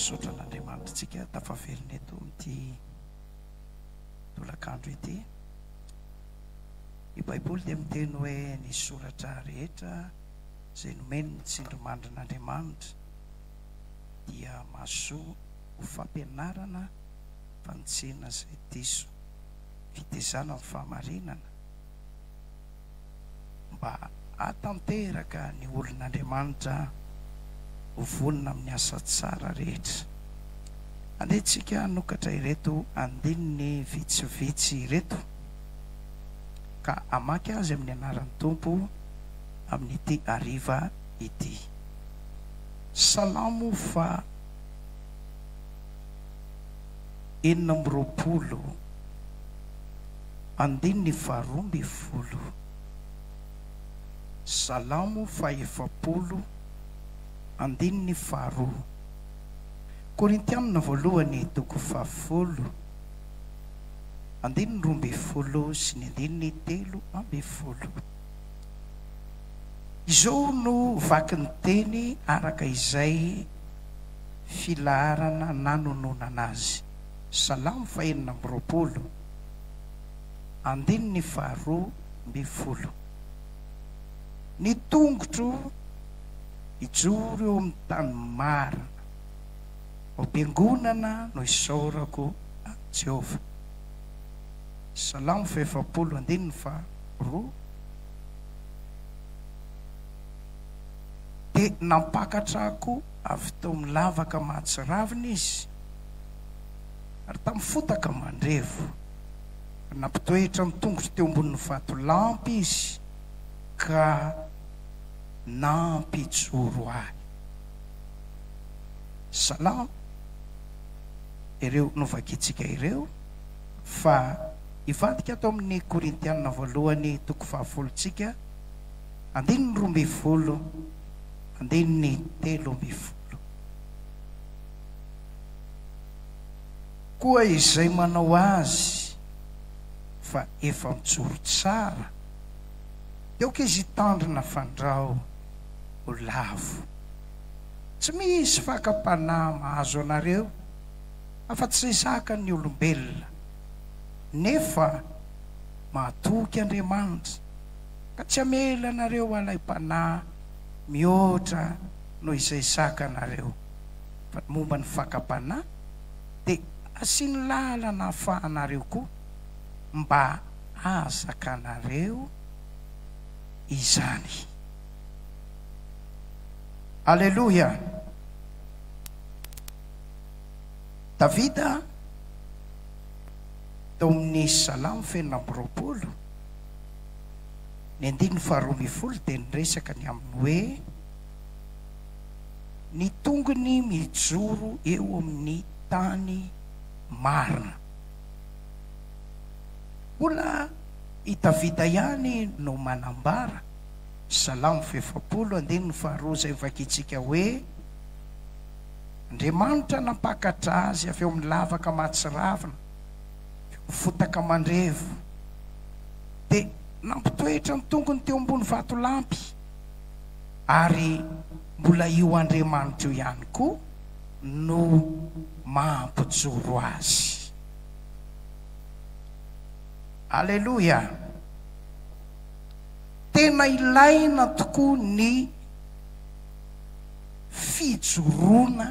Misaotra an'Andriamanitrtsika tafaverina eto amin'ity tolakandro ity. Ny Baiboly dia miteny hoe ny soratra rehetra izay nomeny ny tsindrimandrin'Andriamanitra dia mahasoa ho fampianarana, fanitsiana izay diso, fitezana amin'ny fahamarinana, mba hahatanteraka ny olon'Andriamanitra ho vonona amin'ny asa tsara rehetra. Alehantsika hanokatra ireto andininy vitsivitsy ireto ka hamaky azy amin'ny anaran'ny Tompo amin'ity hariva ity. Salamo faha enina amby roapolo. Andininy faharoa ambin'ny folo. Salamo fahefapolo, andininy faharoa. Korintianina voalohany toko fahafolo, andininy roa ambin'ny folo sy ny andininy telo ambin'ny folo. Izao no vaky ny teny araka izay filaharana nanononana azy, Salamo fahenina amby roapolo. Andininy faharoa ambin'ny folo. Ny tongotro hijoro eo amin'ny tany marina, ho bengonana no hisaorako an'i Jehovah. Salamo fahefapolo andininy faharoa. Dia nampakatra akoho avy tao amin'ny lavaka mahatsiravina izy. Ary tamin'ny fotaka mandrevo, nampitoetra ny tongotro teo ambonin'ny vatolampy izy ka nampijoro ahy. Salamo ireo novakintsika ireo fa hivadika ato amin'ny Korintiana voalohany toko fahafolo tsika, andininy roa ambin'ny folo, andininy telo ambin'ny folo. Koa izay manao azy fa efa mijoro tsara dia aoka izy hitandrina fandrao ho lavo. Tsy misy fakam-panahy mahazo anareo afa-tsy izay zakan'ny olombelona, nefa mahatoky Andriamanitra ka tsy hamela anareo halaim-panahy mihoatra noho izay zakanareo. momba ny fakam-panahy dia asiany lalana hahafahanareo koa mba hahazakanareo izany. Aleloia! Davida tao amin'ny Salamo fenina amby roapolo, ny andininy faharoa ambin'ny folo dia niresaka ny amin'ny hoe. ny tongony mijoro eo amin'ny tany marina. Mbola i Davida ihany no manambara, Salamo fefapolo andininy faharoa izay novakintsika hoe, Andriamanitra nampakatra azy avy ao amin'ny lavaka mahatsiravina, avy ao amin'ny fotaka mandrevo, dia nampitoetra ny tongony teo ambony vatolampy. ary mbola io Andriamanitra io ihany koa no mampijoro azy. Aleloia! Tena ilaina tokoa ny fijoroana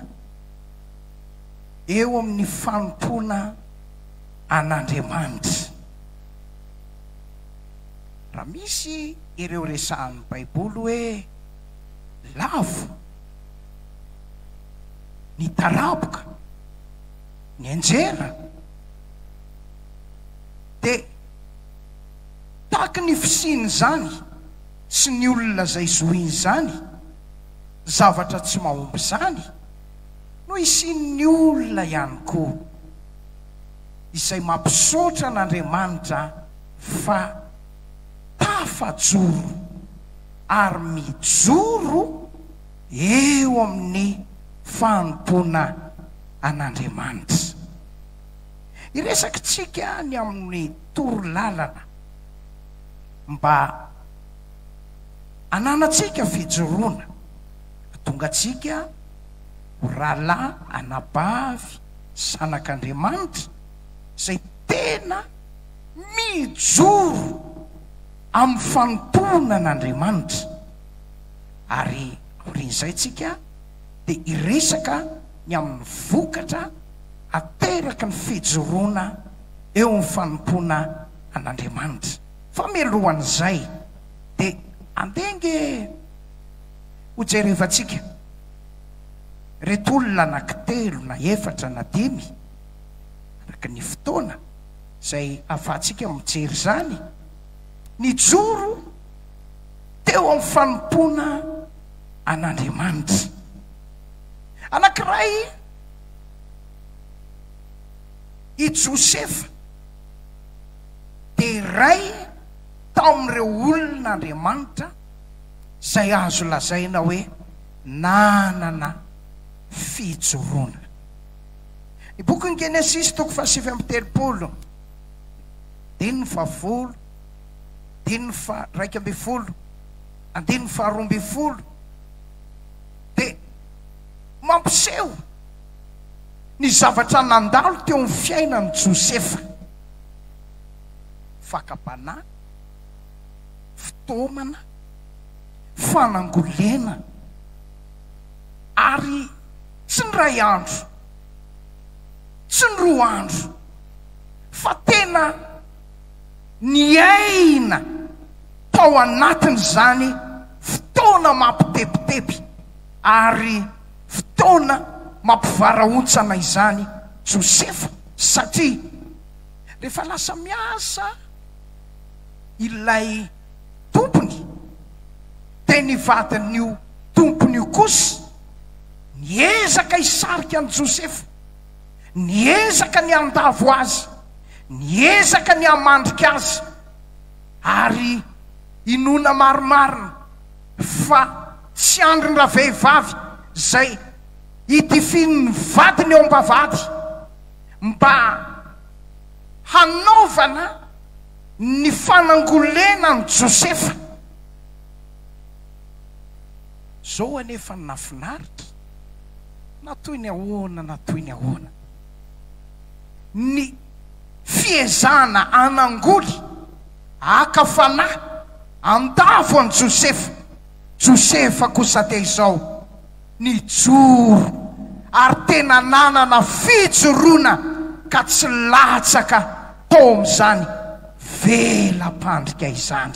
eo amin'ny fanompoana an'Andriamanitra. Raha misy ireo resahan'ny Baiboly hoe lavo ny taraboka nianjera, dia tahaky ny fisian'izany sy ny olona izay zohin'izany zavatra tsy mahomby izany no hisian'ny olona ihany koa izay mampisaotra an'Andriamanitra, fa tafajoro ary mijoro eo amin'ny fanompoana an'Andriamanitra. Hiresakintsika ny amin'ny toro lalana mba hananantsika fijoroana, hatongantsika ho rahalahy anabavy zanak'Andriamanitra, izay tena mijoro amin'ny fanompoana an'Andriamanitra. Ary aorian'izay tsika dia hiresaka ny amin'ny vokatra ateraky ny fijoroana eo amin'ny fanompoana an'Andriamanitra. Fa mialohan'izay dia andeha ange hojerevantsika ireto olona anankitelo na efatra na dimy. araka ny fotoana izay ahafahantsika mijery izany, nijoro teo amin'ny fanompoana an'Andriamanitra. Anankiray i Josefa, dia iray tamin'ireo olon'Andriamanitra izay azo lazaina hoe nanana fijoroana. Ny bokin'ny Genesisy toko fahasivy amby telopolo, andininy fahafolo, andininy faharaika ambin'ny folo, andininy faharoa ambin'ny folo dia mampiseho ny zavatra nandalo teo amin'ny fiainan'i Josefa, fakam-panahy, fitaomana, fanangolena ary. Tsy ny ray andro, tsy ny roa andro, fa tena niaina tao anatin'izany fotoana mampitebiteby ary fotoana mampivarahontsana izany Josefa, satria rehefa lasa miasa ilay tompony, dia ny vadin'io tompony io kosa, Niezaka hisarika an'i Josefa. Niezaka ny handavo azy. Niezaka ny hamandrika azy. Ary inoana marimarina fa tsy andrin-dravehivavy izay hidifian'ny vadiny eo am-bavahady mba hanaovana ny fanangolena an'i Josefa. Zao anefa ny nafinaritra, na toy ny ahoana na toy ny ahoana, ny fiezahana hanangoly, haka fanahy, handavo an'i Josefa, Josefa kosa dia izao, nijoro ary tena nanana fijoroana ka tsy latsaka tao amin'izany vela-pandrika izany.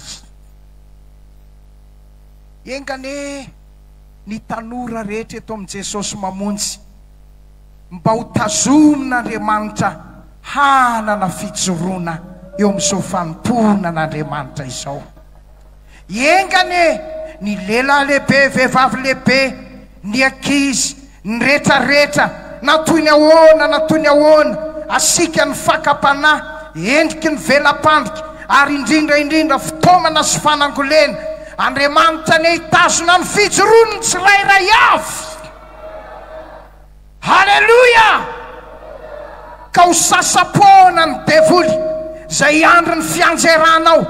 Enga anie ny tanora rehetra eto amin'i Jesosy Mamonjy mba ho tazomin'Andriamanitra hanana fijoroana eo amin'izao fanompoanan'Andriamanitra izao. Enga anie ny lehilahy lehibe, vehivavy lehibe, Ny ankizy, ny retraretra, na toy ny ahoana na toy ny ahoana, asiaka ny fakam-panahy, endriky ny vela-pandrika, ary indrindra indrindra fitaomana sy fanangolena. Andriamanitra anie hitazona ny fijoroan'ny tsirairay avy. Haleloia! Ka ho sasa-poana ny devoly izay hiandry ny fianjeranao,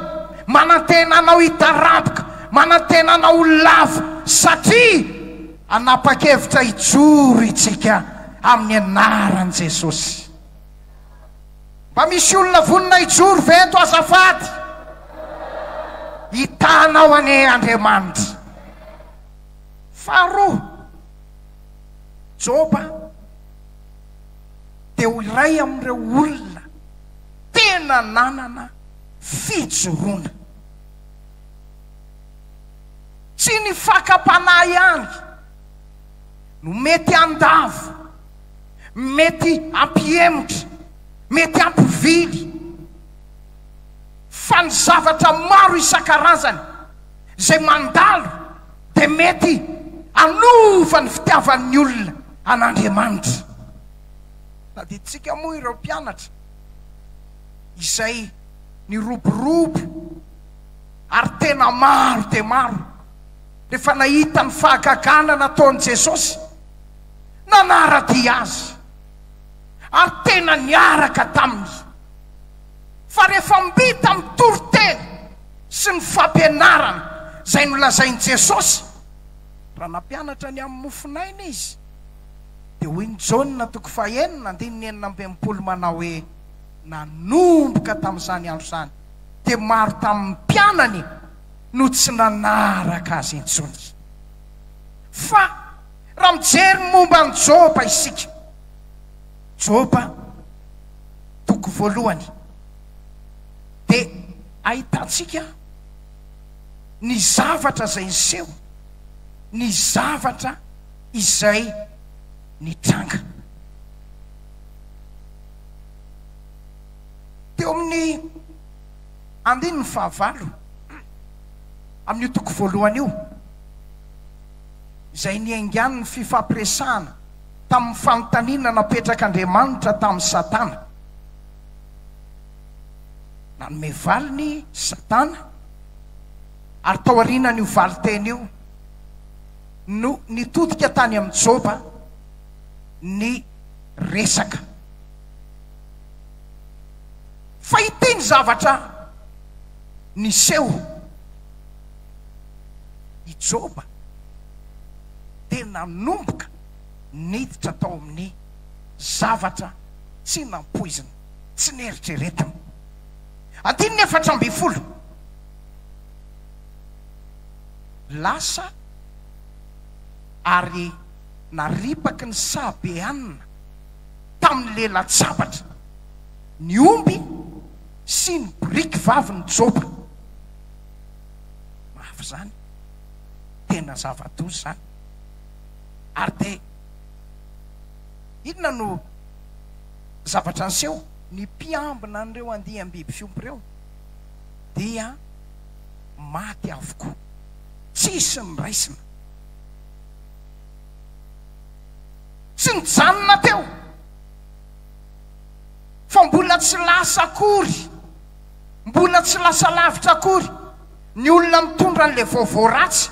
manantena anao hitaraboka, manantena anao ho lavo, satria hanapa-kevitra hijoro itsika amin'ny anaran'i Jesosy. Mba misy olona vonona hijoro ve eto azafady? Hitanao anie Andriamanitra. Faharoa. Joba dia ho iray amin'ireo olona tena nanana fijoroana. Tsy ny fakam-panahy ihany no mety handavo, mety hampihemotra, mety hampovily, fa ny zavatra maro isan-karazany izay mandalo. dia mety hanova ny fitiavan'ny olona an'Andriamanitra. Tadidintsika moa ireo mpianatra izay niroborobo ary tena maro dia maro rehefa nahita ny fahagagana nataon'i Jesosy. Nanara-dia Azy ary tena niaraka taminy. fa rehefa mbita mitory teny sy ny fampianarana izay nolazain'i Jesosy, raha nampianatra ny amin'ny mofonaina Izy, dia hoy ny Jaona toko fahenina andininy enina amby enimpolo manao hoe, Nanomboka tamin'izany andro izany dia maro tamin'ny mpianany no tsy nanaraka Azy intsony. Fa raha mijery ny momba an'i Joba isika, Joba, toko voalohany, dia ahitantsika ny zavatra izay niseho, ny zavatra izay nitranga. Teo amin'ny andininy fahavalo amin'io toko voalohany io, izay niaingan'ny fifampiresahana tamin'ny fanontaniana napetrak'Andriamanitra tamin'i Satana. Nanome valiny Satana, ary tao aorianan'io valin-teny io no nitodika tany amin'i Joba ny resaka. Fa ity ny zavatra niseho. i Joba dia nanomboka niditra tao amin'ny zavatra tsy nampoiziny, tsy neritreretiny. Andininy efatra ambin'ny folo, Lasa ary naripaky ny Sabeanina tamin'ny le latsabatra ny omby sy ny biriky vavy ny Joba. mafy izany, tena zava-doza izany. Ary dia inona no zavatra niseho? Ny mpiambina an'ireo andiam-biby fiompy ireo dia maty avokoa, tsisy ny raisina. Tsy nijanona teo fa mbola tsy lasa akory. Mbola tsy lasa lavitra akory ny olona mitondra an'ilay vaovao ratsy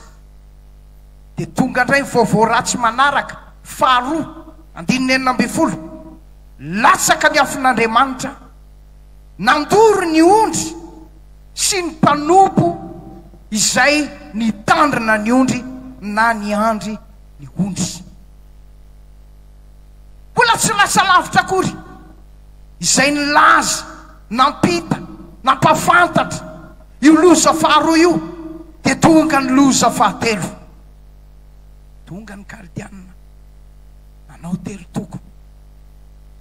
dia tonga indray ny vaovao ratsy manaraka, faharoa, andininy enina ambin'ny folo, Latsaka ny afon'Andriamanitra, nandoro ny ondry sy ny mpanompo izay nitandrina ny ondry na niandry ny ondry. Mbola tsy lasa lavitra akory. izay nilaza, nampita, nampahafantatra io loza faharoa io, dia tonga ny loza fahatelo. Tonga ny Kaldianina, nanao telo toko,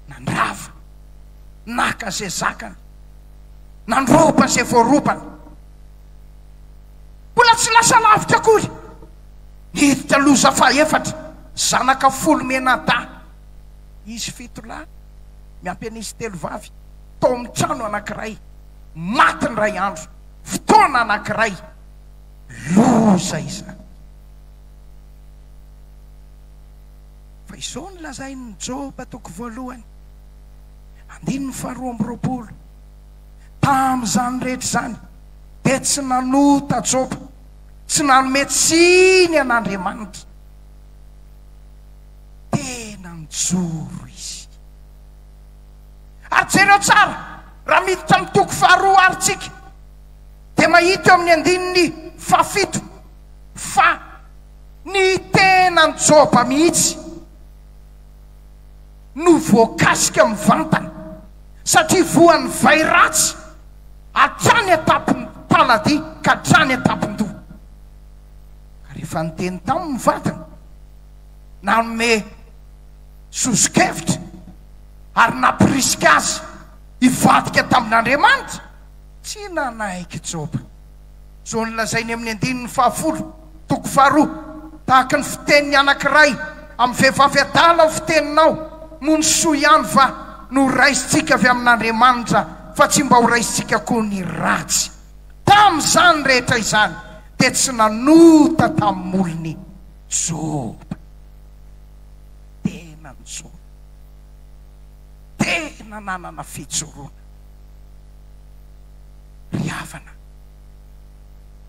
nandrava, naka izay zakany, nandroba izay voarobany. Mbola tsy lasa lavitra akory, niditra loza fahefatra, zanaka folo mianadahy. Izy fito lahy miampy an'izy telo vavy tao amin'ny trano anankiray, maty indray andro, fotoana anankiray. Loza izany. Fa izao no lazain'i Joba, toko voalohany, andininy faharoa amby roapolo, Tamin'izany rehetra izany, dia tsy nanota Joba, tsy nanome tsiny an'Andriamanitra. tena mijoro izy. Ary jereo tsara, raha miditra amin'ny toko faharoa ary tsika, dia mahita eo amin'ny andininy fahafito fa ny tenan' Joba mihitsy no voakasika mivantana, satria voan'ny vay ratsy hatrany an-tampon'ny taladia ka hatrany an-tampon-doha. Ka rehefa niteny taminy ny vadiny, nanome sosokevitra ary nampirisika azy hivadika tamin'Andriamanitra? Tsy nanaiky Joba. Izao no lazainy amin'ny andininy fahafolo, toko faharoa, Tahaka ny fitenin'ny anankiray amin'ny vehivavy adala ny fiteninao, moa ny soa ihany va no horaisintsika avy amin'Andriamanitra fa tsy mba horaisintsika koa ny ratsy? Tamin'izany rehetra izany dia tsy nanota tamin'ny molony. Joba. Tena nijoro. Tena nanana fijoroana. Ry havana,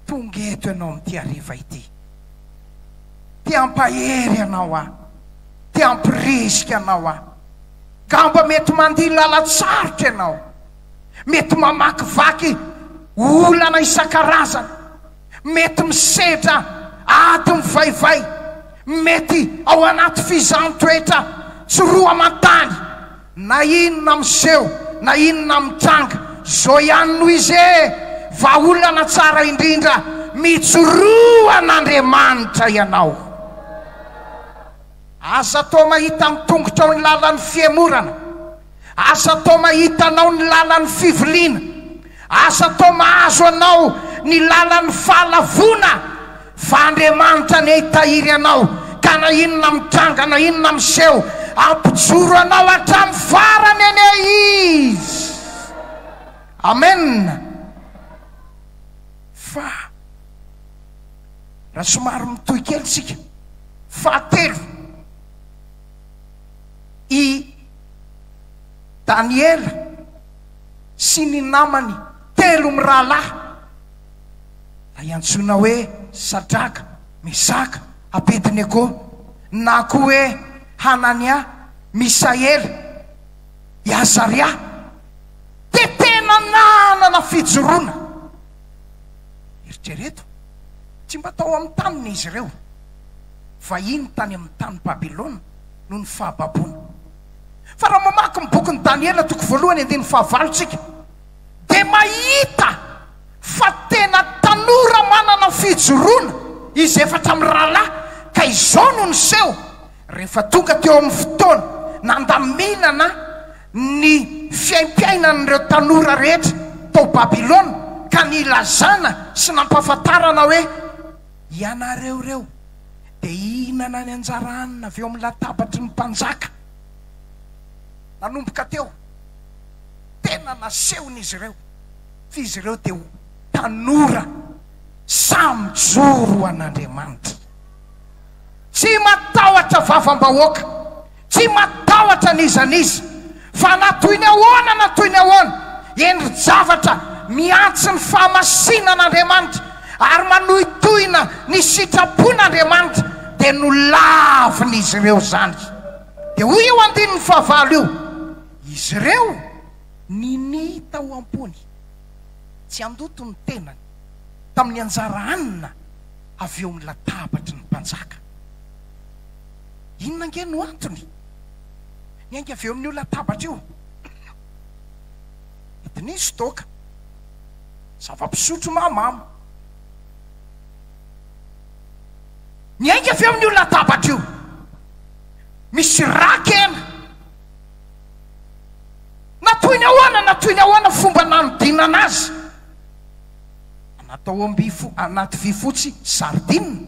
tonga eto ianao amin'ity hariva ity. Te hampahery anao aho. Te hampirisika anao aho. Ngamba mety mandia lalan-tsarotra ianao. Mety mamakivaky olana isan-karazany. Mety misedra ady mivaivay, mety ao anaty fizaham-toetra tsy roa aman-tany, na inona miseho na inona mitranga, izao ihany no izy e! Vahaolana tsara indrindra, mijoroa an'Andriamanitra ianao. Aza atao mahita amin'ny tongotrao ny lalan'ny fihemorana, aza atao mahita anao ny lalan'ny fiviliana, aza atao mahazo anao ny lalan'ny fahalavoana, fa Andriamanitra anie hitahiry anao, ka na inona mitranga na inona miseho, hampijoro anao hatramin'ny farany anie Izy. Amena. Fa raha somary mitohy kely isika. Fahatelo, i Daniela sy ny namany telo mirahalahy, ilay antsoina hoe Sadraka, Mesaka, Abednego, na koa hoe Hanania, Misaela, i Azaria, dia tena nanana fijoroana. Eritrereto. Tsy mba tao amin'ny taniny izy ireo, vahiny tany amin'ny tany Babylona noho ny fahababoana. Fa raha mamaky ny bokin'i Daniela toko voalohany andininy fahavalo tsika dia mahita fa tena tanora manana fijoroana izy efatra mirahalahy ka izao no niseho rehefa tonga teo amin'ny fotoana nandaminana ny fiaimpiainan'ireo tanora rehetra tao Babylona ka nilazana sy nampahafantarana hoe, Ianareo ireo dia hihinana ny anjara hanina avy eo amin'ny latabatry ny mpanjaka. Nanomboka teo, tena nasehon'izy ireo fa izy ireo dia ho tanora sahy mijoro ho an'Andriamanitra, tsy matahotra vavam-bahoaka. Tsy matahotra n'iza n'iza. Fa na toy ny ahoana na toy ny ahoana, endri-javatra mihantsy ny fahamasinan'Andriamanitra ary manohitohina ny sitrapon'Andriamanitra, dia nolavin'izy ireo izany. Dia hoy io andininy fahavalo io, Izy ireo ninihy tao am-pony tsy handoto ny tenany tamin'ny anjara hanina avy eo amin'ny latabatry ny mpanjaka. Inona ange no antony? Niainga avy eo amin'io latabatra io. Nodiniho Doka. Zava-pisotro mahamamo. Niainga avy eo amin'io latabatra io. Misy ra-kena. Na toy ny ahoana na toy ny ahoana ny fomba nanodinana azy. Natao ao am-by fo, anaty vy fotsy sardine.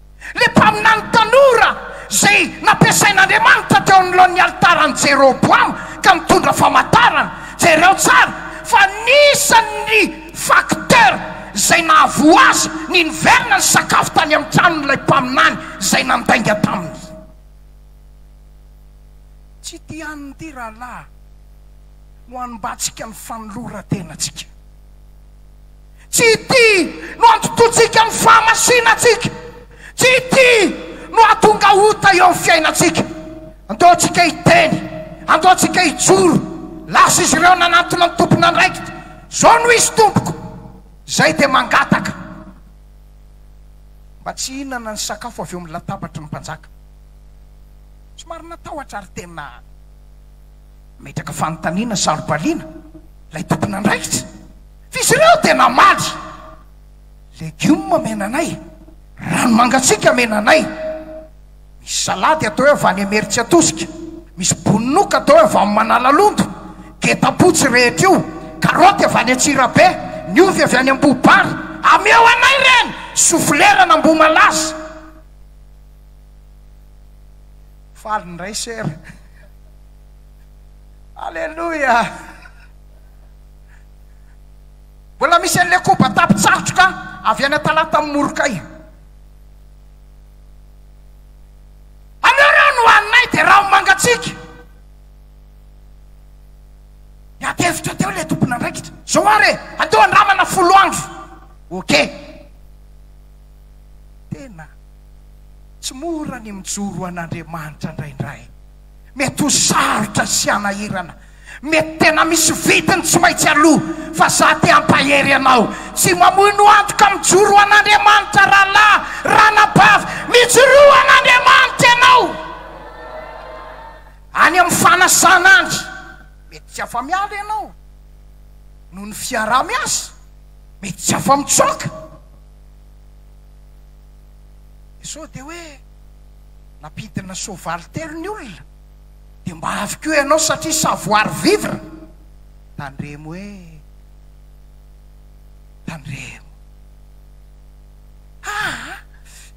Ilay mpaminany tanora izay nampiasain'Andriamanitra teo anoloan'ny alitaran'i Jeroboama ka nitondra famantarana. Jereo tsara fa anisan'ny facteur izay nahavoa azy ny niverina nisakafo tany amin'ny tranon'ilay mpaminany izay nandainga taminy. Tsy tian'ity rahalahy no hanombantsika ny fanoloran-tenantsika. Tsy ity no antotontsika ny fahamasinantsika. Tsy ity no hahatonga ota eo amin'ny fiainantsika. Andeontsika hiteny, andeontsika hijoro, lasa izy ireo nanantona ny tompon'andraikitra, Izao no izy tompoko! Izay dia mangataka mba tsy hihinana ny sakafo avy eo amin'ny latabatry ny mpanjaka. Somary natahotra ary tena nametraka fanontaniana sarobaliana ilay tompon'andraikitra. F'izy ireo dia namaly, Legioma amena anay, rano mangatsiaka amena anay, misy salady atao hoe avany Imeritsiatosika, misy bononoka atao hoe avany Manalalondo, getam-potsy rehetra io, karoty avy any Antsirabe, ny ovy avy any Ambohibary, ameo anay ireny, soflera an'Ambohimalaza. Faly indray Sera. Aleloia! Mbola misy an'ilay koba tapitsarotroka avy any Talata amin'ny Morokay. Aleo ireo no haninay dia rano mangatsiaka. Niady hevitra teo ilay tompon'andraikitra. Izao ary e, andao handramana folo andro. Ok. Tena tsy mora ny mijoro an'Andriamanitra indraindray. Mety ho sarotra sy hanahirana, mety tena misy vidiny tsy maintsy aloa, fa za te hampahery anao, tsy mamoino antoka mijoro ho an'Andriamanitra rahalahy, ranabavy, mijoroa ho an'Andriamanitra ianao any amin'ny fanasan'Andry, mety tsy afa-miala ianao noho ny fiaraha-miasa, mety tsy afa-mitsoaka, sao dia hoe. Nampidina soavaly telo ny olona dia mba avy koa ianao satria savoir vivre. Tandremo eh. Tandremo. Haa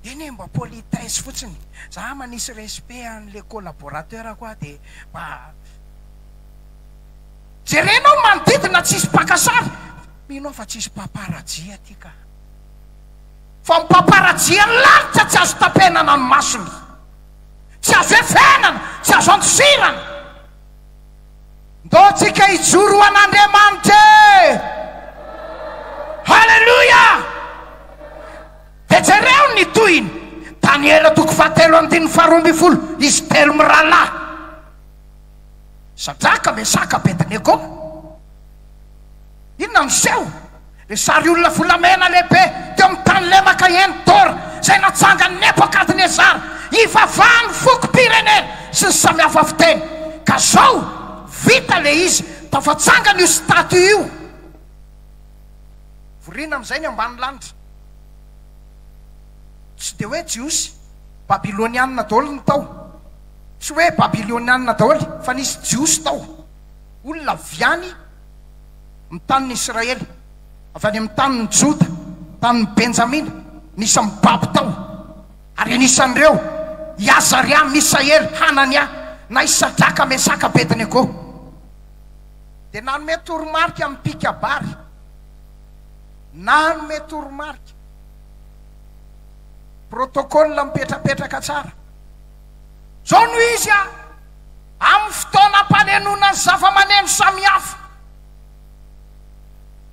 eny e mba politesse fotsiny. Za manisy respect an le collaborateur ko aho dia mba jerenao manodidina tsisy mpaka sary. Mino aho fa tsisy papa rajia aty ka. Fa mipaparajiany lalitra tsy azo tapenana ny masony, tsy azo efenana, tsy azo andosirana. Ndao tsika hijoro ho an'Andriamanitra e! Haleloia! Dia jereo ny tohiny, Daniela toko fahatelo andininy faharoa ambin'ny folo, izy telo mirahalahy, Sadraka, Mesaka, Abednego. Inona no seho? Ny sary olona volamena lehibe teo amin'ny tany lemaka Endor izay natsangan'i Nebokadnezara hivavahan'ny fokom-pirenena sy ny samihafa fiteny. Ka zao, vita le izy, tafatsangana io statue io. Vorina amin'izay ny ambanilanitra. Tsy dia hoe Jiosy, Babylonianina daholo ny tao. Tsy hoe Babylonianina daholo fa nisy Jiosy tao. Olona avy any. Ny tanin'i Israely, avy any amin'ny tanin'i Joda, tanin'i Benjamina, ny isan'ny babo tao. Ary anisan'ireo i Azaria, Misaela, Hanania, na i Sadraka, Mesaka, Abednego. Dia nanome toromarika amin'ny mpikabary. Nanome toromarika. Protocole mipetrapetraka tsara. Zao no izy an! Amin'ny fotoanam-panenona ny zavamaneno samihafa,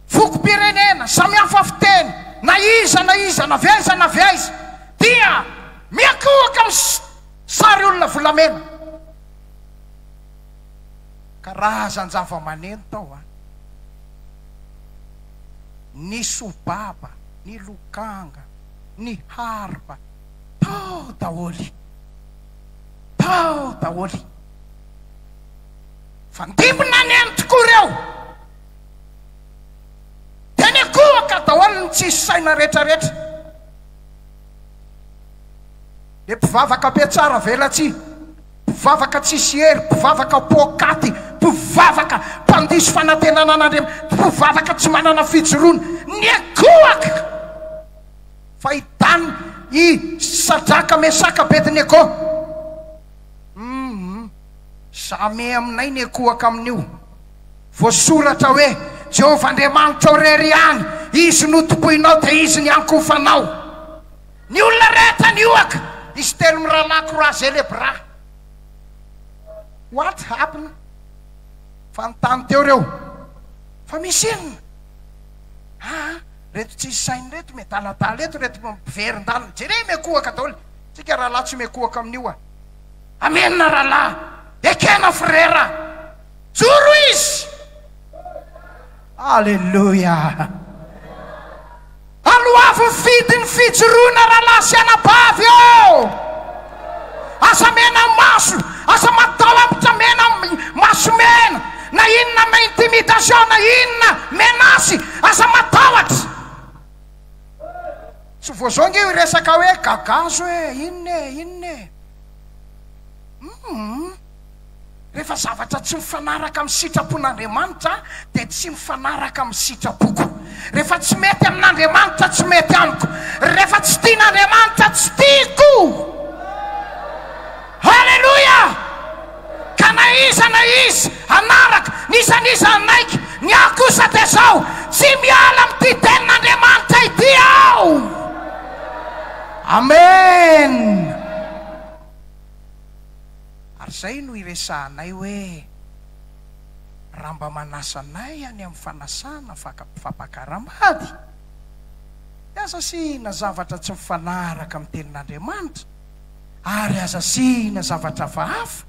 fokom-pirenena, samihafa fiteny, na iza na iza, na avy aiza na avy aiza, dia miankohoka ny sary olona volamena. Karazan-javamaneno tao an! Ny sobaba, ny lokanga, ny harpa. Tao daholo! Tao daholo! Fandimby-na ny ainy tokoa ireo! Teny an-kohaka daholo ny tsisy saina retraretra! Dia mpivavaka be tsara velatsihy, mpivavaka tsisy hery, mpivavaka poakaty, mpivavaka mpandiso fanantenana an'Andriamanitra, mpivavaka tsy manana fijoroana, ny an-kohaka! Fahitan' i Sadraka, Mesaka, Abednego, Umm Zame aminay nekohaka amin' io voasoratra hoe, Jehovah Andriamanitrao irery ihany, Izy no tompoinao, dia Izy ny ankofanao. Ny olona rehetra niohaka, izy telo mirahalahy Kora Zelebra. What happened? Fanontany teo ireo, Fa misy inona? Aa. Reto tsisy sainy reto miadaladala eto reto mpiverin-dalana jereo miakohaka daholo tsika rahalahy tsy miakohaka amin'io a! Amena rahalahy! Ekena frera! Joro izy! Aleloia! Aloavy ny fidin'ny fijoroana rahalahy sy anabavy ô! Aza menamaso, aza matahotra mena maso mena na inona na intimidation na inona menace aza matahotra. Tsy vao zao nge io resaka hoe gagazo e, inona e, inona e. Hum. Rehefa zavatra tsy mifanaraka amin'ny sitrapon'Andriamanitra dia tsy mifanaraka amin'ny sitrapoko. Rehefa tsy mety amin'Andriamanitra, tsy mety amiko. Rehefa tsy tian'Andriamanitra, tsy tiako. Haleloia! Ka na iza na iza hanaraka, na iza na iza hanaiky, ny ahy kosa dia izao, tsy miala amin'ity tenin'Andriamanitra ity aho. Amen! Ary izay no iresahanay hoe raha mba manasa anay any amin'ny fanasana fampakaram-bady, dia aza asiana zavatra tsy mifanaraka amin'ny Tenin'Andriamanitra, ary aza asiana zavatra hafahafa,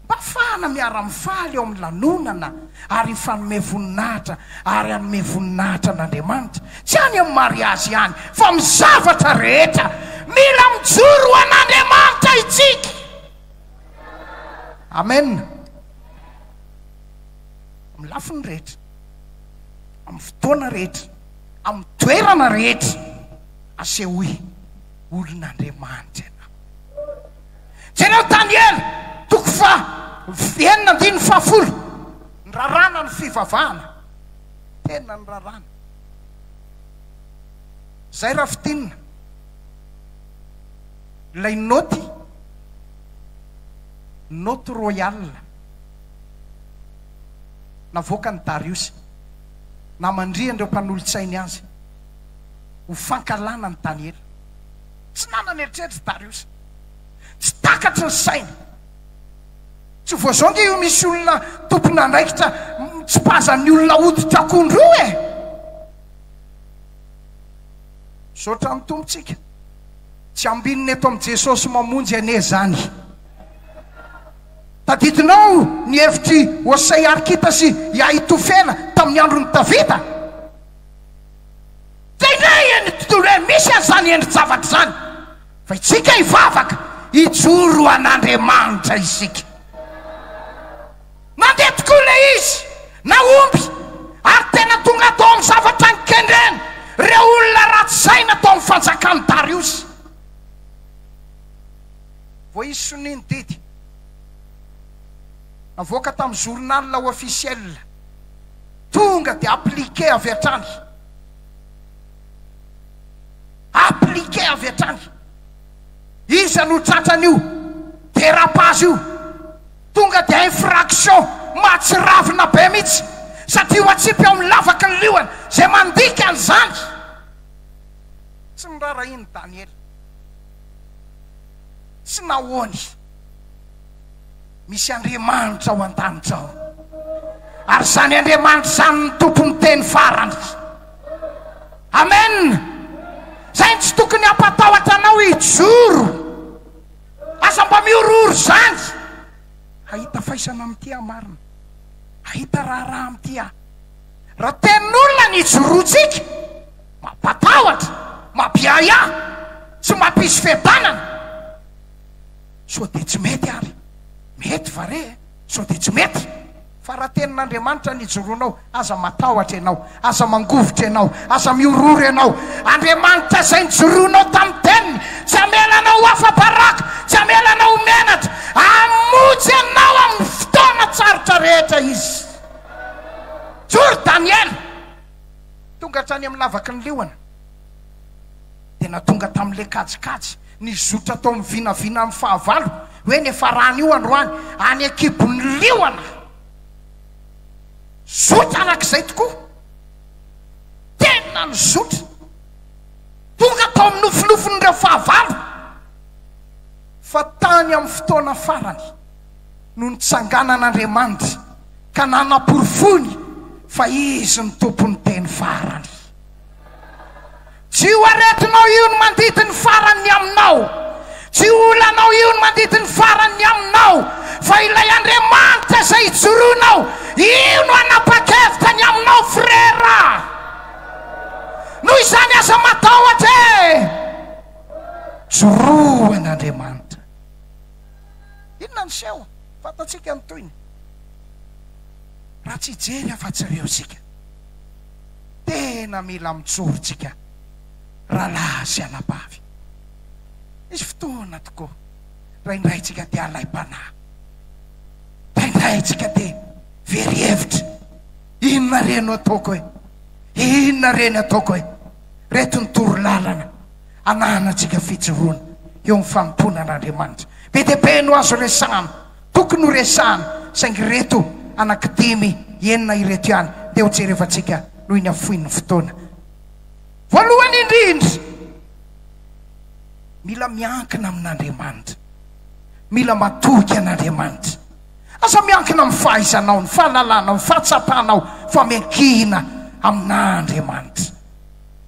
mba hafahana miara-mifaly ao amin'ny lanonana ary hifanome voninahitra ary hanome voninahitra an'Andriamanitra. Tsy any amin'ny mariazy ihany fa amin'ny zavatra rehetra. Mila mijoro ho an'Andriamanitra isika. Amen. Amin'ny lafiny rehetra, amin'ny fotoana rehetra, amin'ny toerana rehetra, asehoy olon'Andriamanitra ianao. Jereo Daniela toko faha enina andininy fahafolo, niraràna ny fivavahana. tena ny raràna. Zay Rafitinina. Ilay naoty, naoty royale navoakan'i Dariosy, namandrihan'ireo mpanolotsainy azy ho fankahalana an'i Daniela. Tsy nanana eritreritry Dariosy. Tsy takatry ny sainy. Tsy vao izao nge io misy olona tompon'andraikitra mitsipaza ny olona hoditra akondro io e! Misaotra ny Tompo tsika. Tsy ambinina eto amin'i Jesosy mamonjy anie izany. Tadidinao ny hevitr'i Hosea Arkita sy i Ahitofela tamin'ny andron'i Davida? Dia indray eny ny tontolo eny, misy an'izany endri-javatra izany, fa isika hivavaka, hijoro ho an'Andriamanitra isika. Nandeha tokoa ilay izy, nahomby, ary tena tonga tao amin'ny zavatra nikendrena ireo olona ratsy saina tao amin'ny fanjakan'i Dariosy. Vao izy sonia ny didy navoaka tamin'ny journal officiel. Tonga dia appliquer avy hatrany. Appliquer avy hatrany. Iza no tratran'io dérapage io? Tonga dia infraction mahatsiravina be mihitsy satria ho atsipy ao amin'ny lavaky ny liona izay mandika an'izany. Tsy nirara iny Daniela. Tsy nahoany. Misy Andriamanitra ao an-danitra ao, ary izany Andriamanitra izany ny tompon'ny teny farany. Amen. Izay no tsy tokony hampatahotra anao hijoro. Aza mba mihorohoro izany. Hahita faisana amin'ity aho marina. Hahita raharaha amin'ity aho. Raha tenin'olona ny ijoroantsika, mampatahotra, mampiahiahy, tsy mampisy fiadanana. Sao dia tsy mety ary? Mety va re e? Sao dia tsy mety? Fa raha tenin'Andriamanitra ny hijoroanao, aza matahotra ianao, aza mangovitra ianao, aza mihorohoro ianao. Andriamanitra izay nijoroanao tamin'ny Teniny, tsy hamela anao ho afa-baraka, tsy hamela anao ho menatra. Hamonjy anao amin'ny fotoana tsarotra rehetra Izy. Mijoro Daniela, tonga hatrany amin'ny lavaky ny liona, dia na tonga tamin'ilay kajikajy, Nizotra tao amin'ny vinavina amin'ny fahavalo hoe niafarany io androany any an-kibon'ny liona. Zotra araka izay tokoa. Tena nizotra. Tonga tao amin'ny nofinofin'ireo fahavalo fa tany amin'ny fotoana farany no nitsanganan'Andriamanitra ka nanaporofoiny fa Izy no Tompon'ny teny farany. Tsy io aretinao io no mandidy ny farany ny aminao, tsy io olanao io no mandidy ny farany ny aminao, fa ilay Andriamanitra izay ijoroanao, io no hanapa-kevitra ny aminao frera. Noho izany aza matahotra e! Joroa an'Andriamanitra. Inona ny seho? Fantatsika ny tohiny raha tsy hijery afa-tsy ireo isika. tena mila mijoro tsika ralahy sy anabavy. Misy fotoana tokoa ndraindray tsika dia alaim-panahy, ndraindray tsika dia very hevitra, inona re no ataoko e? Inona re ny ataoko e? Reto ny toro lalana ananantsika fijoroana eo amin'ny fanompoana an'Andriamanitra be dia be no azo resahana. Tokony ho resahana, saingy ireto anakidimy, enina ireto ihany dia hojerevantsika noho ny hafoin'ny fotoana. Voalohany indrindra, mila miankina amin'Andriamanitra. Mila matoky an'Andriamanitra. Aza miankina amin'ny fahaizanao, ny fahalalanao, ny fahatsapanao, fa miankina amin'Andriamanitra.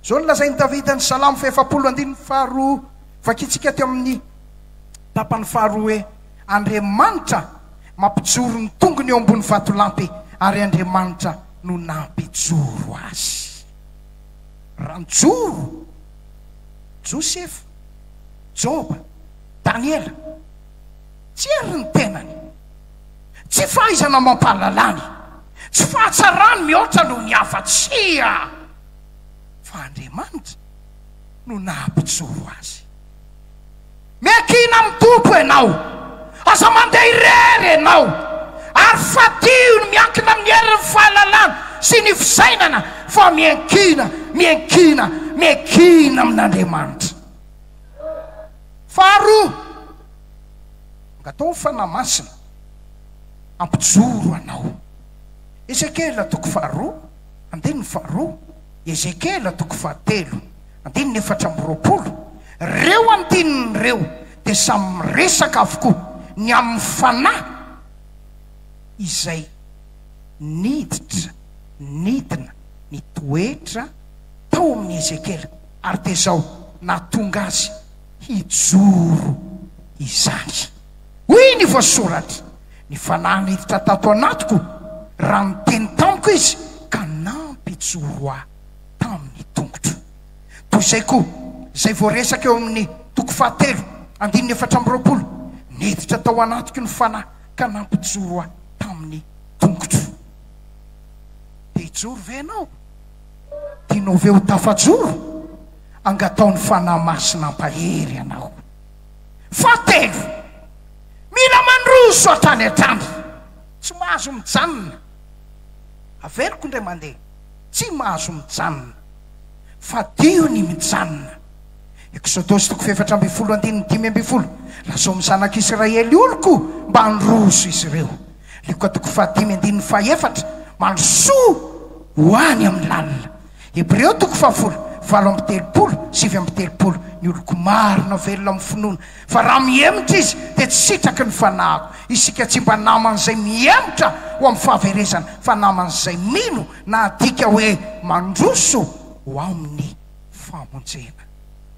Izao no lazain'i Davida ny Salamo fahefapolo andininy faharoa, vakintsika teo amin'ny. Tapany faharoa hoe, Andriamanitra mampijoro ny tongony eo ambony vatolampy, ary Andriamanitra no nampijoro azy. Raha nijoro Josefa, Joba, Daniela, tsy hery ny tenany, tsy fahaizana amam-pahalalany, tsy fahatsarany mihoatra noho ny hafa, tsia, fa Andriamanitra no nampijoro azy. Miankina amin'ny Tompo ianao. Aza mandeha irery ianao, ary fadiho ny miankina amin'ny herin'ny fahalalana sy ny fisainana, fa miankina, miankina, miankina amin'Andriamanitra. Faharoa, Angataho ny Fanahy Masina hampijoro anao. Ezekiela toko faharoa, andininy faharoa, Ezekiela toko fahatelo. Andininy efatra amby roapolo, Ireo andininy ireo dia samy miresaka avokoa ny amin'ny fanahy izay niditra nidina nitoetra tao amin'i Ezekiela, ary dia izao nahatonga azy hijoro izany. Hoy ny voasoratra, Ny fanahy niditra tato anatiko, raha niteny tamiko izy ka nampijoro ahy. tamin'ny tongotro. Toy izay koa, izay voaresaka eo amin'ny toko fahatelo, andininy efatra amby roapolo, Niditra tao anatiko ny Fanahy ka nampijoro ahy tamin'ny tongotro. Te hijoro ve ianao? Tianao ve ho tafajoro? Angataho ny Fanahy Masina hampahery anao. Fahatelo, mila mandroso hatrany hatrany. Tsy mahazo mijanona. Averiko indray mandeha. tsy mahazo mijanona, fadio ny mijanona. Eksodosy toko fahefatra ambin'ny folo andininy dimy ambin'ny folo Lazao amin'ny zanak'i Isiraely oloko mba handroso izy ireo. Lioka toko fahadimy andininy fahefatra Mandrosoa ho any amin'ny lalina. Hebreo toko fahafolo, valo amby telopolo, sivy amby telopolo Ny oloko marina velona amin'ny finoana Fa raha mihemotra izy dia tsy sitraky ny fanahiko. Isika tsy mba naman'izay mihemotra ho amin'ny fahaverezana, fa naman'izay mino, na adika hoe mandroso ho amin'ny famonjena.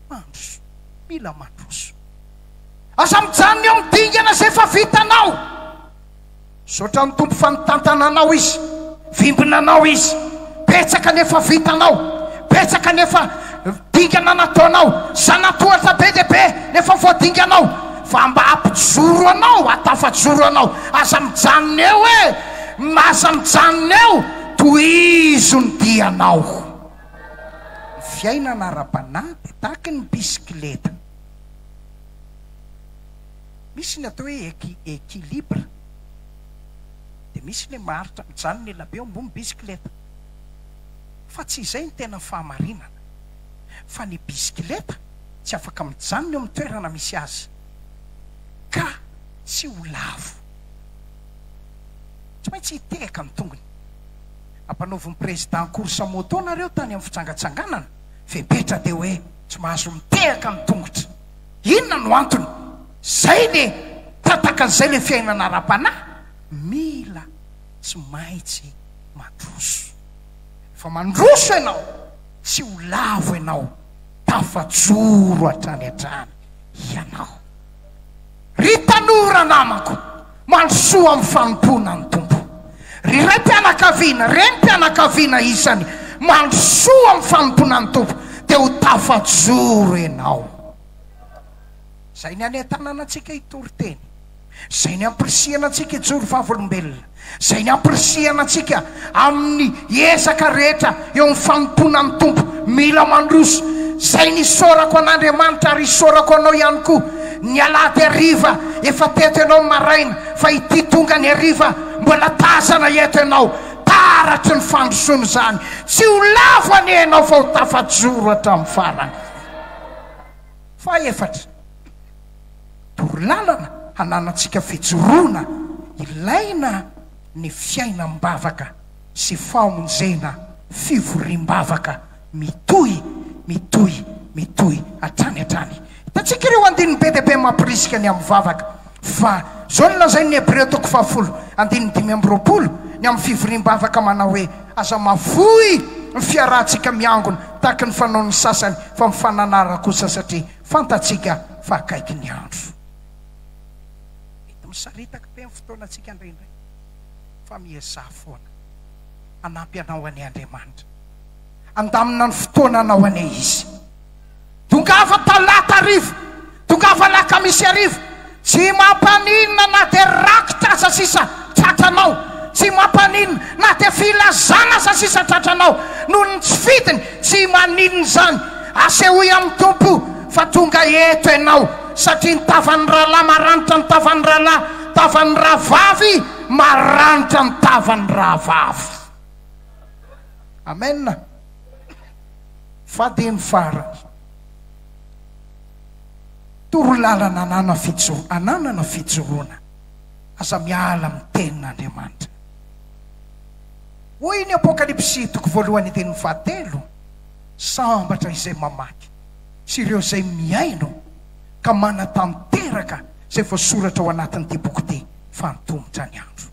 Mandroso. Mila mandroso. Aza mijanona eo amin'ny dingana izay efa vitanao. Misaotra an'i Tompo fa nitantana anao Izy, vimbina anao Izy. Betsaka ny efa vitanao, betsaka ny efa dingana nataonao, zanatohatra be dia be ny efa voadinganao, fa mba ampijoro anao, atafajoro anao. Aza mijanona eo e, aza mijanona eo, tohizo ny dianao. Ny fiainana ara-panahy dia tahaky ny bisikileta. Misy ny atao hoe equi equilibre dia misy ny maharitra mijanona ny elabe eo ambony bisikileta fa tsy izay ny tena fahamarinana fa ny bisikileta tsy afaka mijanona eo amin'ny toerana misy azy ka tsy ho lavo tsy maintsy hitehaka ny tongony ampanaovin'ny président course moto nareo tany amin'ny fijangantsanganana fepetra dia hoe tsy mahazo mitehaka ny tongotra Inona no antony? Zay le tataka zay le fiainana ara-panahy mila tsy maintsy mandroso. Rehefa mandroso ianao tsy ho lavo ianao, tafajoro hatrany hatrany ianao. Ry tanora namako, mandrosoa amin'ny fanompoana ny Tompo. Ry raim-pianakaviana, renim-pianakaviana isany, mandrosoa amin'ny fanompoana ny Tompo, dia ho tafajoro ianao. Izay ny hanentanana antsika hitory teny, izay ny hampirisihana antsika hijoro vavolombelona, izay ampirisihana antsika amin'ny ezaka rehetra eo amin'ny fanompoana ny Tompo, mila mandroso, izay nisaorako an'Andriamanitra ary isaorako anao ihany koa ny alahady hariva efa teto ianao maraina fa ity tonga ny hariva mbola tazana eto ianao, taratry ny fandrosoana izany, tsy ho lavo anie ianao fa ho tafajoro hatramin'ny farany. Fahefatra. torolalana hananantsika fijoroana ilaina ny fiainam-bavaka sy famonjena fivoriam-bavaka mitohy, mitohy, mitohy hatrany hatrany. Hitantsika ireo andininy be dia be mampirisika ny amin'ny vavaka fa izao no lazain'ny Hebreo toko fahafolo andininy dimy amby roapolo ny amin'ny fivoriam-bavaka manao hoe, Aza mahafoy ny fiarahantsika miangona tahaka ny fanaon'ny sasany fa mifananara kosa satria Fantatsika fa akaiky ny andro. Mety misaritaka be ny fotoanantsika indraindray, fa miezaha foana hanampy anao anie Andriamanitra. Handamina ny fotoananao anie Izy. Tongava Talata hariva, tongava Alakamisy hariva, Tsy mampaninona na dia rakitra aza sisa tratranao, tsy mampaninona na dia filazana aza sisa tratranao noho ny tsy fidiny, tsy maninona izany, asehoy amin'ny Tompo fa tonga eto ianao, satria ny tavan'ny rahalahy maranitra ny tavan'ny rahalahy, tavan'ny rahavavy maranitra ny tavan'ny rahavavy. Amen. Fa dia ny farany. Torolalana anana fijoro ananana fijoroana aza miala amin'ny tenin'Andriamanitra. Hoy ny Apokalypsy toko voalohany andininy fahatelo, Sambatra izay mamaky sy ireo izay mihaino ka manatanteraka izay voasoratra ao anatin'ity boky ity fa antomotra ny andro.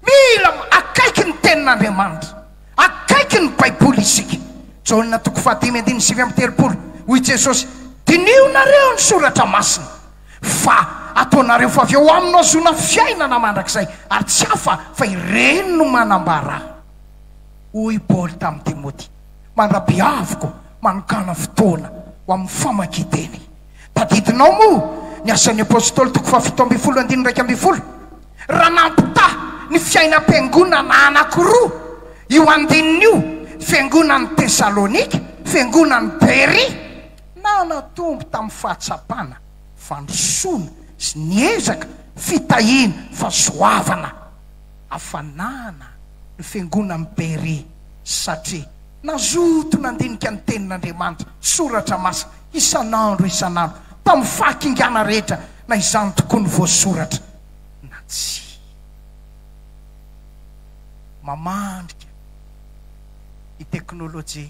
Mila akaiky ny tenin'Andriamanitra. Akaiky ny Baiboly isika. Jaona toko fahadimy andininy sivy amby telopolo, Hoy Jesosy, Diniho nareo ny soratra masina, fa ataonareo fa avy ao aminy no azoana fiainana mandrakizay, ary tsy hafa fa ireny no manambara ahy. Hoy Paoly tamin'i Timoty, Mandra-pihaviko manokàna fotoana ho amin'ny famakian-teny. Tadidinao moa ny Asan'ny Apostoly toko fahafito ambin'ny folo andininy iraika ambin'ny folo? Raha nampitaha ny fiainam-piangonana anankiroa io andininy io, fiangonan'i Tesalonika, fiangonan'i Beria, nanatombo tamin'ny fahatsapana fandrosoana sy niezaka fitahiana fahasoavana hafanana ny fiangonan'i Beria, satria nazoto nandinika ny Tenin'Andriamanitra, Soratra Masina, isan'andro isan'andro, tamin'ny fahakingana rehetra na izany tokoa ny voasoratra. na tsia. Mamandrika ny teknolojia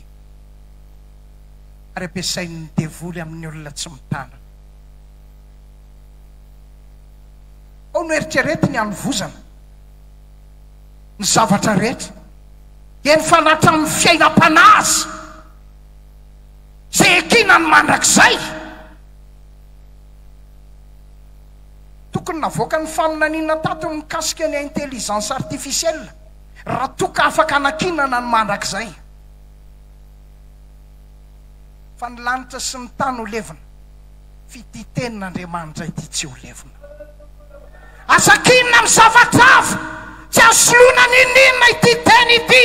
ary ampiasain'ny devoly amin'ny olona tsy mitana. Ao no eritreretiny hanovozana ny zavatra rehetra, eny fa na hatramin'ny fiainam-panahy aza, izay ekinany mandrakizay. Tokony navoaka ny faminaniana tato ny mikasika ny intelligence artificielle raha toa ka afaka anakinana ny mandrakizay. Fa ny lanitra sy ny tany ho levona, f'ity tenin' Andriamanitra ity tsy ho levona. Aza kinina amin'ny zavatra hafa, tsy azo soloina n'inon'inona ity teny ity.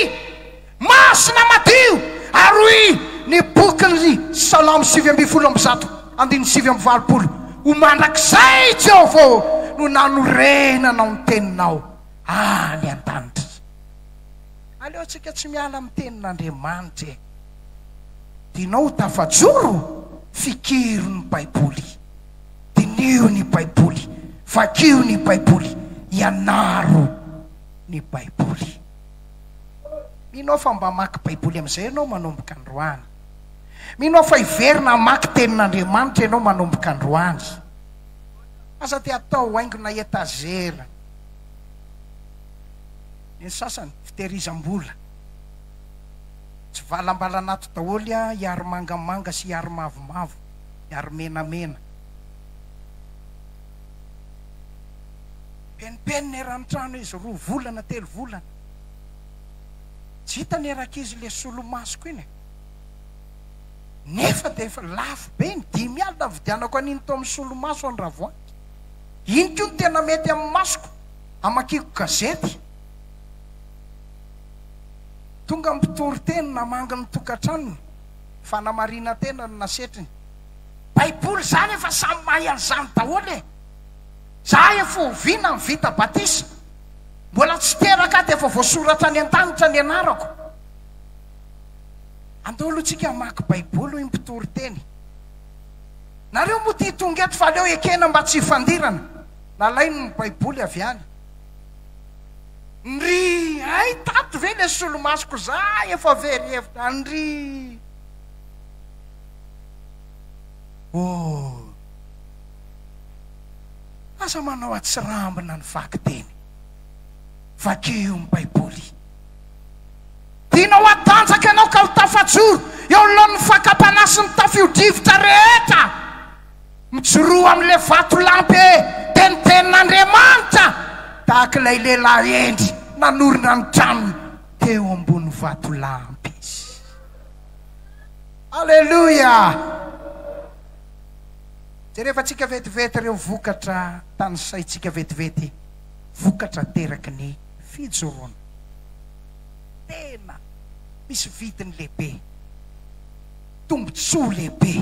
Masina madio ary hoy ny bokin' ny Salamo sivy ambin'ny folo amby zato, andininy sivy amby valopolo, Ho mandrakizay, Jehovah ô, no nanorenanao ny teninao any an-danitra. Aleontsika tsy miala amin'ny tenin' Andriamanitra e! Dinao ho tafajoro, fikiro ny Baiboly, diniho ny Baiboly, vakio ny Baiboly, ianaro ny Baiboly. Mino aho fa mba hamaky Baiboly amin'izay ianao manomboka androany. Mino aho fa hiverina hamaky Tenin'Andriamanitra ianao manomboka androany. Aza dia atao haingona etazera. Ny sasany, fitehirizam-bola. Tsy valambalana ato daholo an, hiary mangamanga sy hiary mavomavo, hiary menamena. Penimpenina eran'ny trano izy roa volana telo volana. Tsy hitany erankizy le solomasoko iny e. Nefa dia efa lafo be ny dimy alina nividianako an'iny tao amin'ny solomaso any Ravoahangy. Iny koa no tena mety amin'ny masoko hamakiako gazety. Tonga ny mpitoriteny namangy ny tokantranony, fanamarinan-tena no nasetriny. Baiboly zany efa samy mahay an'izany daholo e! Za efa oviana no vita batisa? Mbola tsy teraka aho dia efa voasoratra any an-danitra ny anarako? Andao aloha tsika hamaky baiboly hoy ny mpitory teny. Nareo moa tia tonga eto fa aleo ekena mba tsy hifandirana. Nalainy ny baiboly avy any. Ndry, hay tato ve ilay solomasoko za efa very hevitra, ndry. Ooh. Aza manao atsirambina ny vakiteny. Vakio ny Baiboly. Dinao hatanjaka ianao ka ho tafajoro eo anoloan'ny fakam-panahy sy ny tafio-drivotra rehetra. Mijoroa amin'ilay vatolampy tenitenin'Andriamanitra tahaka ilay lehilahy hendry nanorina ny tranony teo ambony vatolampy izy. Aleloia! Jerevantsika vetivety ireo vokatra tanisaintsika vetivety, vokatra ateraky ny fijoroana. Tena misy vidiny lehibe, tombontsoa lehibe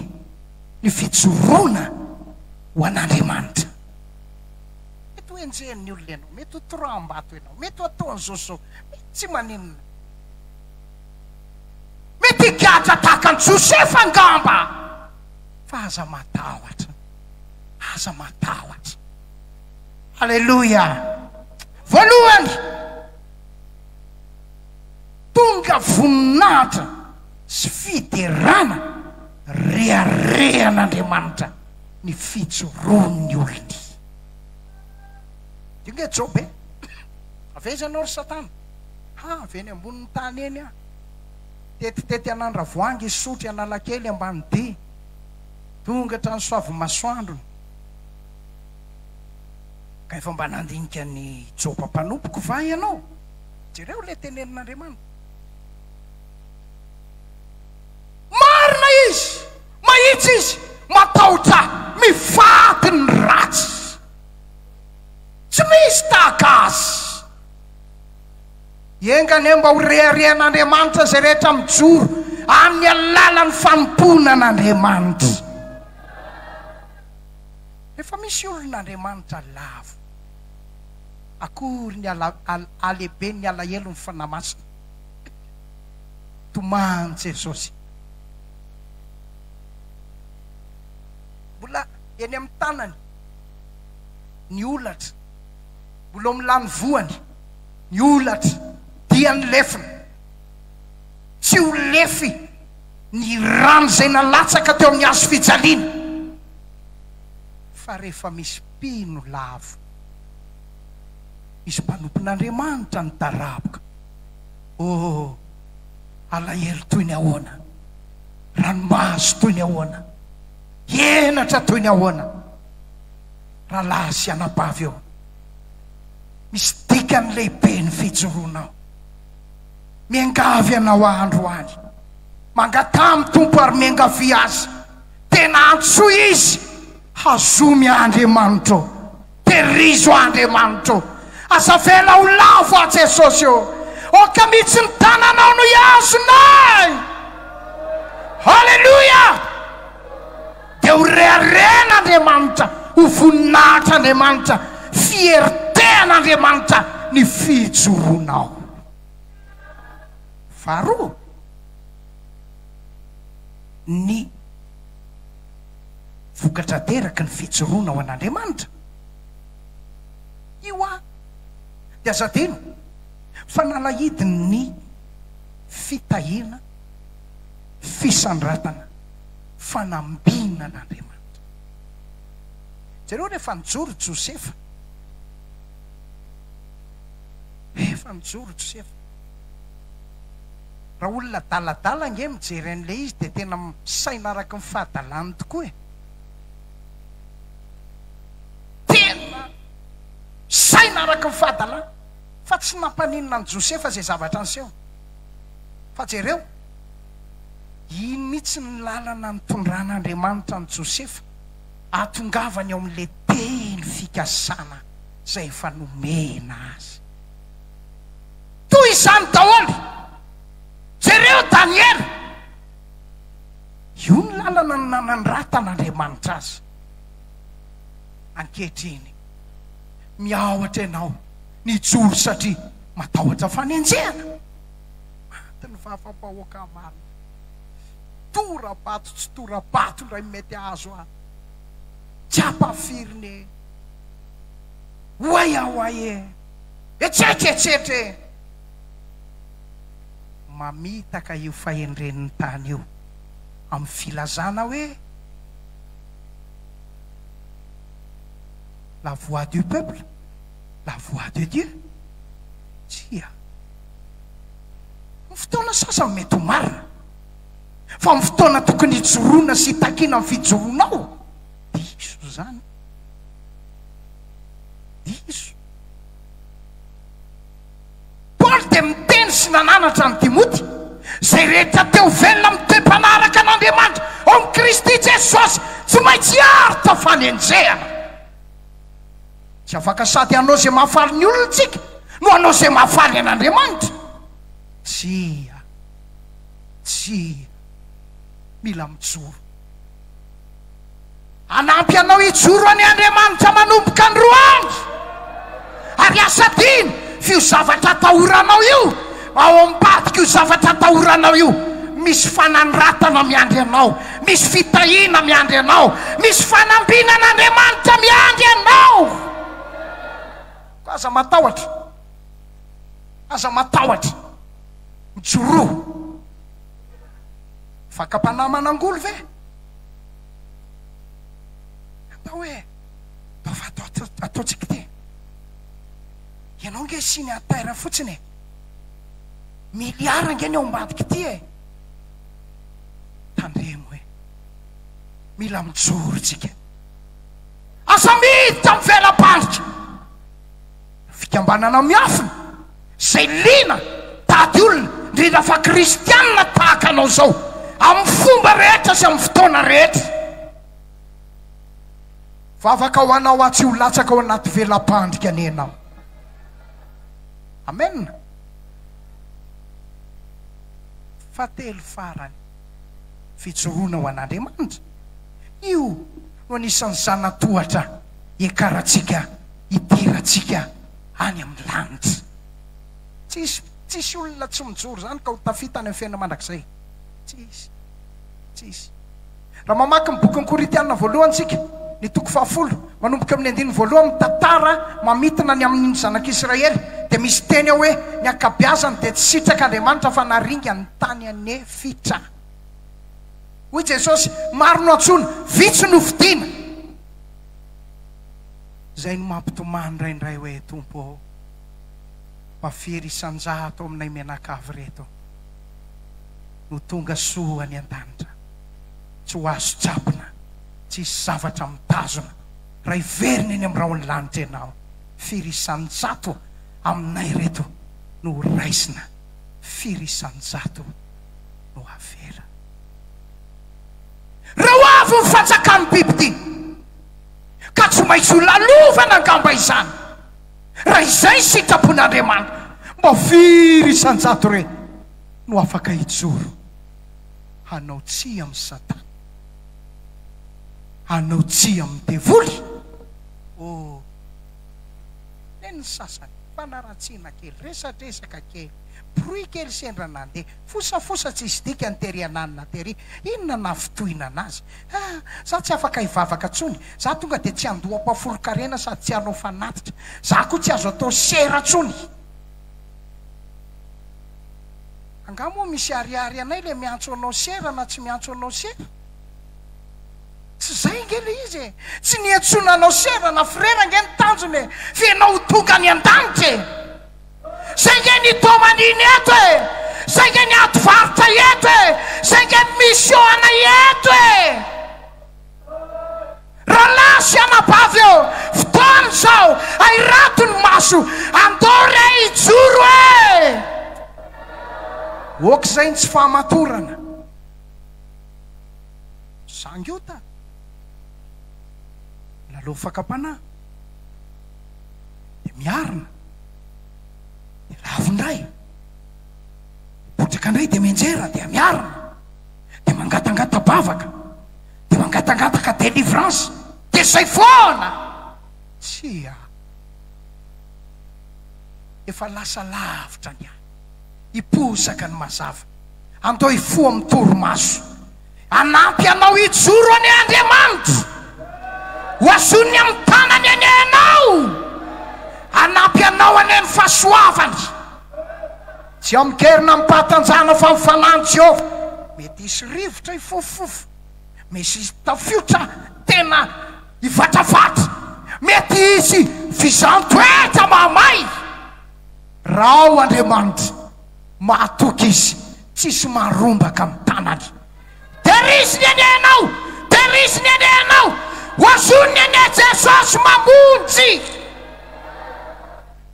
ny fijoroana ho an'Andriamanitra. Mety ho enjehin'ny olona ianao, mety ho torahambato ianao, mety ho ataon'izao sy izao, mety tsy maninona. Mety higadra tahaka an'i Josefa angamba. Fa aza matahotra. Aza matahotra. Aleloia. Voalohany, tonga voninahitra sy fiderana reharehan'Andriamanitra ny fijoroan'ny olony. Dia inge Joba e. Avy aiza ianao ry Satana? Ha! avy eny ambonin'ny tany eny aho. Tetitety an'Andravoahangy Isotry Analakely Ambanidia. Tonga hatrany Soavin'ny Masoandrony. Ka efa mba nandinika ny joba mpanompoko va ianao? Jereo ilay tenenin'Andriamanitra. Marina izy! Mahitsy izy! Matahotra ahy! Mifaty ny ratsy! Tsy misy tahaka azy! Enga anie mba ho reharehan'Andriamanitra izay rehetra mijoro amin'ny alalan'ny fanompoana an'Andriamanitra. Efa misy olon'Andriamanitra lavo. Akory ny halehiben'ny alahelon'ny Fanahy Masina. Tomany Jesosy. Mbola eny amin'ny tanany ny holatra. Mbola omla ny voany, ny holatra dia ny lefiny. Tsy ho lefy ny rano izay nalatsaka teo amin'ny hazo fijaliana, fa rehefa misy mpino lavo, misy mpanompon'Andriamanitra nitaraboka, oh, alahelo toy ny ahoana, ranomaso toy ny ahoana, henatra toy ny ahoana! Rahalahy sy anabavy ô, misy dikany lehibe ny fijoroanao. Miangavy anao aho androany, mangataha amin'ny Tompo ary miangavia Azy, tena antsoy Izy, hazomy aho Andriamanitra ô, tehirizo aho Andriamanitra ô, aza avela ho lavo aho Jesosy ô, aoka mihitsy ny tananao no hihazona ahy! Haleloia! Dia ho reharehan'Andriamanitra, ho voninahitr'Andriamanitra, fierté an'Andriamanitra ny fijoroanao. Faharoa, ny vokatra ateraky ny fijoroana ho an'Andriamanitra. Io an, dia aza adino fa nalahidin'ny fitahiana. fisandratana fanambina an'Andriamanitra. Jereo rehefa nijoro Josefa. Rehefa nijoro Josefa. Raha olona adaladala nge mijery an'ilay izy dia tena misaina araka ny fahadalany tokoa e. Tena misaina araka ny fahadalany fa tsy nampaninona an'i Josefa izay zavatra niseho. Fa jereo, iny mihitsy ny lalana nitondran'Andriamanitra an'i Josefa hahatongavany ao amin'ilay teny fikasana izay efa nomena azy. Toy izany daholo, jereo Daniela, io ny lalana nanandratan'Andriamanitra azy. Ankehitriny, miahotra ianao. nijoro satria matahotra fanenjehana. Maty ny vavambahoaka marina. Tora-bato tsy tora-bato indray mety ahazo ahy. Tsy ampahafirin e. Oay aho ay e. Etsetra etsetra e. Mamitaka io fahendren'ny tany io amin'ny filazana hoe la voix du peuple. La voix de Dieu? Tsia. Ny fotoana sasany mety ho marina, fa amin'ny fotoana tokony hijoroana sy hitakiana ny fijoroanao, diso izany. Diso. Paoly dia niteny sy nananatra an'i Timoty, Izay rehetra te ho velona amin'ny toe-mpanaraka an'Andriamanitra ao amin'i Kristy Jesosy, tsy maintsy hiaro tao fanenjehana. Tsy afaka sady hanao izay mahafaly ny olona isika no hanao izay mahafaly an'Andriamanitra. Tsia, tsia. Mila mijoro. Hanampy anao hijoro any Andriamanitra manomboka androany. Ary asadino f'io zavatra atahoranao io. Ao ambadik'io zavatra atahoranao io, misy fanandratana miandry anao, misy fitahiana miandry anao, misy fanambinan'Andriamanitra miandry anao. Koa aza matahotra, aza matahotra. Mijoroa. Fakam-panahy manangoly ve? Atao hoe, ataovy ato, ataontsika ity. Ianao nge signe en terre fotsiny e. Milliard ange ny ao ambadika ity e! Tandremo hoe mila mijoro tsika. Aza miditra amin'ny vela-pandrika. Fikambanana miafina izay liana mitady olona, indrindra fa kristianina tahaka anao izao, amin'ny fomba rehetra sy amin'ny fotoana rehetra. Vavaka ho anao aho tsy ho latsaka ao anaty vela-pandrika anie ianao. Amen! Fahatelo farany, fijoroana ho an'Andriamanitra. Io no anisan'ny zana-tohatra iakarantsika, idirantsika any amin'ny lanitra. Tsisy, tsisy olona tsy mijoro izany ka ho tafita any amin'ny fiainana mandrakizay. Tsisy, tsisy. Raha mamaky ny bokin'ny Korintiana voalohany isika, ny toko fahafolo, manomboka amin'ny andininy voalohany, mitantara mamintina ny amin'ny ny zanak'Israely, dia misy teny ao hoe, Ny ankabiazany dia tsy sitraka Andriamanitra fa naringany ny tany an'efitra. Hoy Jesosy, Maro no antsoina, vitsy no fidiana. Izay no mampitomany indraindray hoe, Tompo ô, mba firy isan-jato aminay mianakavy ireto? no tonga soa any an-danitra. Tsy ho azo tsapona, tsy hisy zavatra mitazona raha hiverina eny amin'ny rahon'ny lanitra ianao. Firy isan-jato aminay ireto no ho raisina, firy isan-jato no havela. Reo avy ny fanjakan'ny biby ity, ka tsy maintsy ho lalovana angamba izany. Raha izay ny sitrapon'Andriamanitra, mba firy isan-jato re no afaka hijoro hanao tsia amin'i Satana? Hanao tsia amin'ny devoly? Oh, nen'ny sasany, fanaratsiana kely, resadresaka kely, bruit kely sendra nandeha. Fosafosa tsisy dikany tery ananina tery, inona nafotohina anazy? Ah! Za tsy afaka hivavaka tsony, za tonga de tsy handoa ampahafolon-karena sady tsy hanao fanatitra, za ko tsy azo atao sera tsony! Angaha moa misy ariary anay le miantso anao sera na tsy miantso anao sera? Tsy zay nge le izy e! Tsy ny iantsoana anao sera na frera nge ny tanjona e! Fa ianao ho tonga any an-danitra e! Zay nge ny domanine eto e! Zay nge ny ady varotra eto e! Zay nge ny mission anay eto e! Rahalahy sy anabavy ô! Fotoana izao ahirato ny maso! Andao re hijoro e! Ok zay ny tsy fahamatorana. Zangy ota! Lalao fakam-panahy. dia miarina, dia lavo indray, dia potraka indray dia mianjera, dia miarina, dia mangatangata-bavaka, dia mangatangataka délivrance, dia izay foana! Tsia, efa lasa lavitra ny ahy, hiposaka ny mazava, andao hifoha amin'ny torimaso. Hanampy anao hijoro anie Andriamanitra. Hoazoniny amin'ny tanany anie ianao. Hanampy anao anie ny fahasoavany. Tsy ao amin-keriny amim-pahatanjahana fa amin'ny fanahin'i Jehovah. Mety hisy rivotra hifofofofo. Misy hisy tafiotra tena hivatravatra. Mety hisy fizaham-poetra mahamay. Rao Andriamanitra. Mahatoky izy tsisy marombaka am tanany. Teriziny anie ianao, teriziny anie ianao, ozoniny anie Jesosy mamonjy.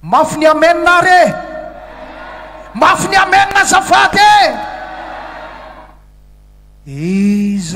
Mafy ny amen ary e! Mafy ny amen azafady e! Iza.